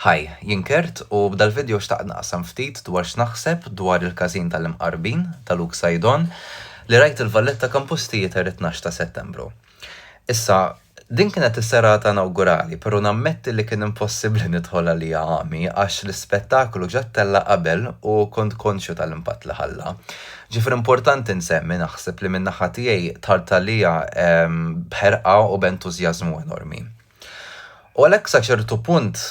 Hi, jien Kurt u b'dal-vidjo xtaqt naqsam ftit dwar x'naħseb dwar il-każin tal-Imqarbin ta' Luke Saidon li rajt il-Valletta Campus Theatre it-tnax ta' Settembru. Issa, din kienet is-serata inawgurali pero' nammetti li kien impossibbli nidħol għaliha għami għax l-ispettaklu ġa ttella' qabel u kont konxju tal-impatt li ħalla. Ġifieri importanti nsemmi, naħseb, li min-naħa tiegħi dħalt għaliha b'ħerqa u b'entużjażmu enormi. U għalhekk sa ċertu punt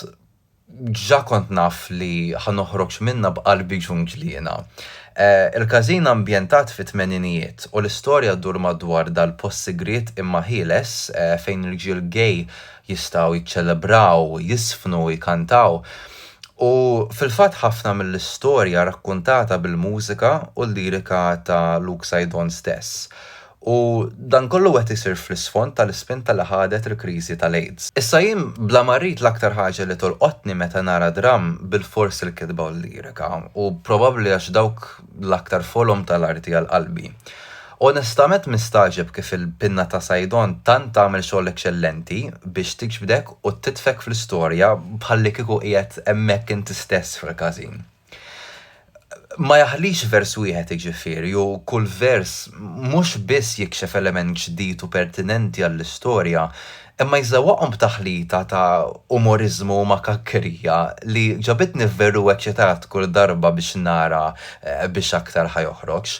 ġa kont naf li ħa noħroġ minnha b'qalbi ġunġliena. Il-każin ambjentat fit-tmeninijiet u l-istorja ddur madwar dal-post sigriet imma ħieles fejn rġiel gay jistgħu jiċċelebraw, jiżfnu u jkantaw. U fil-fatt ħafna mill-istorja rakkuntata bil-mużika u l-lirika ta' Luke Saidon stess. U dan kollu qed isir fl-isfond tal-ispinta li ħadet il-kriżi tal-AIDS. Issa jien bla ma rrid l-aktar ħaġa li tolqotni meta nara dramm bilfors il-kitba u l-lirika, u probabbli għax dawk l-aktar folom tal-arti għal qalbi. Onestament nistagħġeb kif il-pinna ta' Saidon tant tagħmel xogħol eċċellenti biex tiġbdek u titfek fl-istorja bħallikieku qiegħed hemmhekk inti stess fil-każin. ma jaħlix vers wieħed iġifieri u kull vers mhux biss jikxef element ġdid u pertinenti għall-istorja, imma jżewwaqhom b'taħlita ta' umoriżmu u makakkerija li ġabitni veru eċċitat kull darba biex nara biex aktar ħa joħroġ.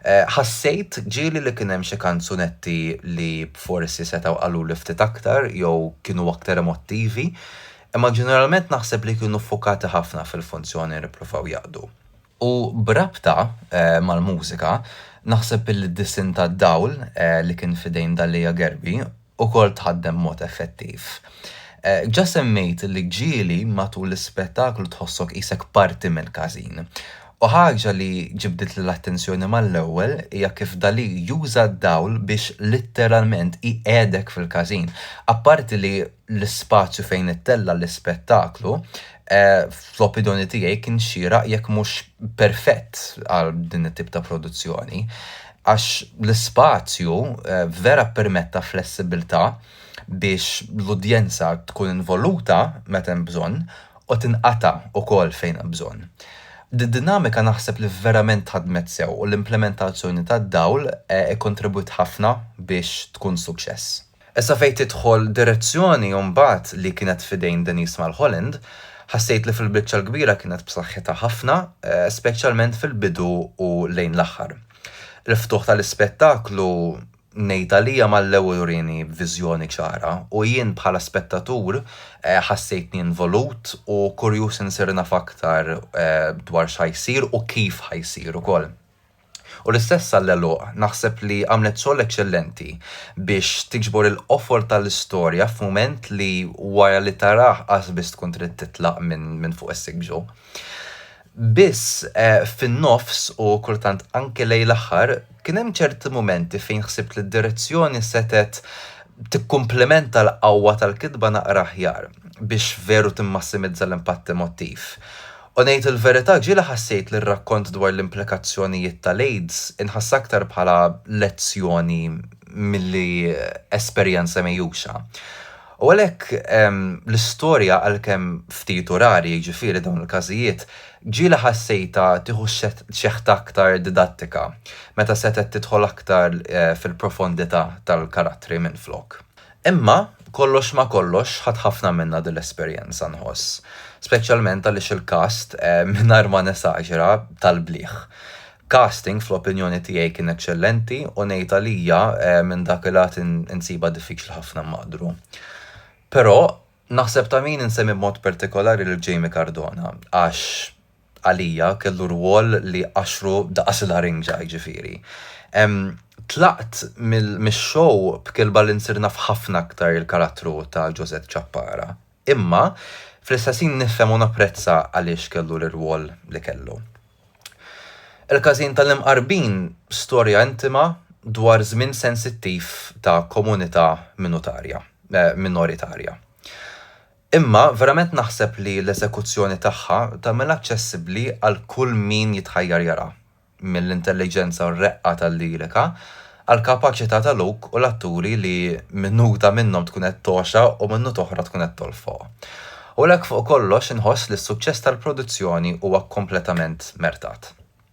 Ħassejt ġieli li kien hemm xi kanzunetti li forsi setgħu qaluli ftit aktar jew kienu aktar emottivi, imma ġeneralment naħseb li kienu ffukati ħafna fil-funzjoni li ppruvaw jaqdu. U b'rabta mal-mużika, naħseb li d-disinn tad-dawl li kien f'idejn Dalia Gerbi wkoll tħaddem b'mod effettiv. Ġa semmejt li ġieli matul l-ispettaklu tħossok qisek parti mill-każin. U ħaġa li ġibditli l-attenzjoni mal-ewwel hija kif Dalí juża d-dawl biex litteralment iqiegħdek fil-każin, apparti li l-ispazju fejn ittella' l-ispettaklu, fl-opinjoni tiegħi kien xieraq jekk mhux perfett għal din it-tip ta' produzzjoni. Għax l-ispazju vera ppermetta flessibbiltà biex l-udjenza tkun involuta meta hemm bżonn u tinqata' ukoll fejn hemm bżonn. Did-dinamika naħseb li verament ħadmet sew u l-implementazzjoni tad-dawl ikkontribwiet ħafna biex tkun suċċess. Issa fejn tidħol direzzjoni u mbagħad li kienet f'idejn Denise Mulholland, ħassejt li fil-biċċa l-kbira kienet b'saħħitha ħafna, speċjalment fil-bidu u lejn l-aħħar. Il-ftuħ tal-ispettaklu, ngħid għalija mal-ewwel urieni viżjoni ċara u jien bħala spettatur ħassejtni involut u kurjuż insir naf aktar dwar x'ħa jsir u kif ħa jsir ukoll. U l-istess għall-għeluq, naħseb li għamlet xogħol eċċellenti biex tiġbor il-qofol tal-istorja f'mument li wara li tarah qas biss tkun trid titlaq minn fuq is-siġġu. Biss, fin-nofs u kultant anke lejn l-aħħar, kien hemm ċerti mumenti fejn ħsibt li d-direzzjoni setgħet tikkumplimenta l-qawwa tal-kitba naqra aħjar biex veru timmassimizza l-impatt emottiv. U ngħid il-verità, ġieli ħassejt li r-rakkont dwar l-implikazzjonijiet tal-AIDS inħass aktar bħala lezzjoni milli esperjenza mgħixha. U għalhekk, l-istorja, għalkemm ftit u rari, jiġifieri, dawn il-każijiet, ġieli ħassejtha tieħu xeħta aktar didattika, meta setgħet tidħol aktar fil-profondità tal-karattri minflok. Imma, kollox ma' kollox, ħadt ħafna minnha din l-esperjenza, nħoss. Speċjalment għaliex il-cast, mingħajr ma nesaġera, tal-bliħ. Casting, fl-opinjoni tiegħi, kien eċċellenti u ngħid għalija, minn dak il-lat insibha diffiċli ħafna nmaqdru. Però, naħseb ta' min insemmi b'mod partikolari lil Jamie Cardona, għax, għalija kellu rwol li qashru daqas il-larinġa jiġifieri. Tlaqt mix-show b'kilba li nsir naf ħafna aktar il-karattru ta' Ġużett Ċappara. Imma, fl-istess ħin nifhem u napprezza għaliex kellu l-irwol li kellu. Il-Każin tal-Imqarbin storja intima dwar żmien sensittiv ta' komunità minoritarja. Imma verament naħseb li l-eżekuzzjoni tagħha tagħmilha aċċessibbli għal kull min jitħajjar jaraha, mill-intelliġenza u r-reqqa tal-lirika għall-kapaċità ta' Luke u l-atturi li minuta minnhom tkun qed togħxa u minut oħra tkun qed tolfoq. U għalhekk fuq kollox inħoss li s-suċċess tal-produzzjoni huwa kompletament mertat.